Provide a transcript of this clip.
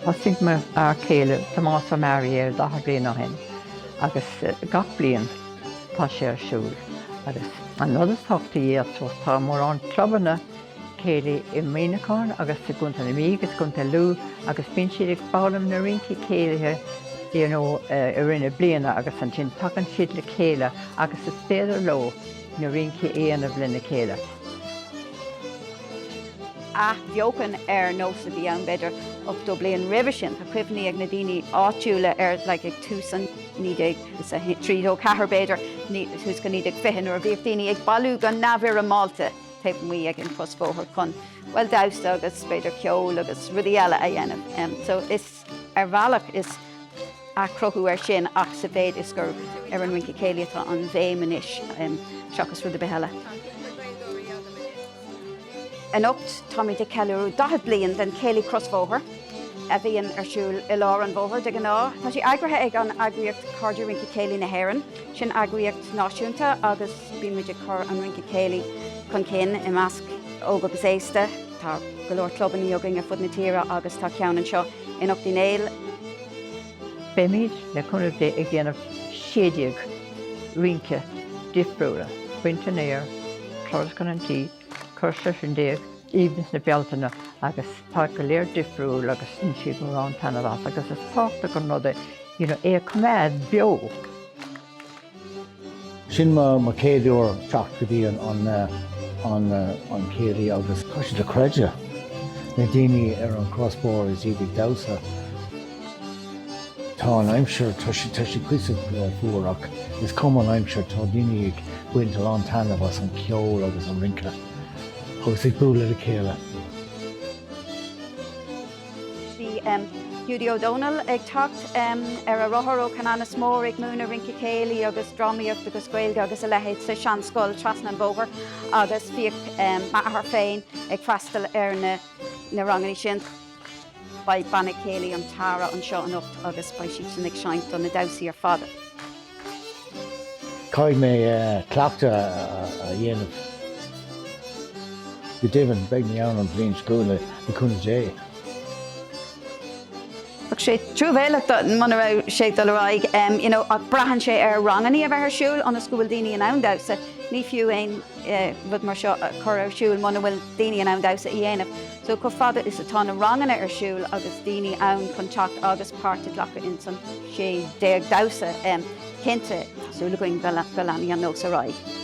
Thosaigh m'fhear céile Tomás Ó Mearaí air daichead bliain ó shin agus gach bliain tá sé ar siúl. Agus an rud is tábhachtaí ar dtús, tá mórán clubanna céilí i Muineachán agus sa gContae na Mí agus i gContae Lú agus bíonn siad ag foghlaim na rincí céilithe you know i rith na bliana agus ansin tagann siad le chéile agus is féidir leo na rincí a dhéanamh lena chéile. athbheochan ar nós a bhí ann b'fhéidir ochtó bliain roimhe sin. Tá cuimhní ag na daoine áitiúla ar like ag tús an naoi déag is a trí nó ceathair b'fhéidir suas go naoi déag fiche nuair a bhíodh daoine ag bailiú go neamhfhoirmeálta taobh amuigh ag an crosbhóthar chun bhuel damhsa agus b'fhéidir ceol agus rudaí eile a dhéanamh. Em so is. Ar bhealach, is athchruthú air sin ach sa mhéid is gur ar an rince céilí atá an bhéim anois seachas rud ar bith eile. Anocht táimid ag ceiliúradh 40 bliain den Chéilí Crosbhóthar, a bhíonn ar siúl i lár an bhóthair de ghnáth. Tá sé eagraithe ag an eagraíocht Cairde Rince Céilí na hÉireann, sin eagraíocht náisiúnta agus bíonn muid ag cur an rince céilí chun cinn i measc óg agus aosta. Tá go leor clubannaí againn ar fud na tíre agus tá ceann anseo in Ucht Uí Néill. Beimid, le cúnamh Dé, ag déanamh 16 rince difriúla, baint an fhéir, turas chun an tí, cor seisear déag, aoibhneas na Bealtaine agus tá go léir difriúil agus bhain siad mórán taitneamh as agus is tábhachtach an rud é é a choimeád beo. Sin mo chéad uair teacht go dtí an céilí agus tá sé dochreidte na daoine ar an chrosbhóthar is iad ag damhsa. Tá an aimsir, tá sí cuíosach fuar ach is cuma an aimsir, tá daoine ag baint a lán taitneamh as an ceol agus an rince agus ag bualadh le chéile. Bhí Hiúdaí Ó Dónaill ag teacht ar a rothar ó Cheanannas Mór ag múineadh rince céilí agus drámaíocht agus Gaeilge agus a leithéid sa seanscoil trasna an bhóthair agus bhíodh m'athair féin ag freastal ar na rangannaí sin. Beidh Banna Céilí an Tara anseo anocht agus beidh siadsan ag seinnt do na damhsaí ar fad. Caithfidh mé cleachtadh a dhéanamh. Go deimhin, beidh mé ann an bhliain seo chugainn, le cúnamh Dé. Bheadh sé truamhéalach muna raibh sé ag dul ar aghaidh, you know, ach braitheann sé ar rangannaí a bheith ar siúl ionas go bhfuil daoine in ann damhsa. Ní fiú aon rud mar seo a chur ar siúl muna bhfuil daoine in ann damhsa a dhéanamh. So chomh fada is atá na ranganna ar siúl agus daoine ann chun teacht agus páirt a ghlacadh insan, 16 damhsa. Cinnte, tá súil againn go leanfaidh an nós ar aghaidh.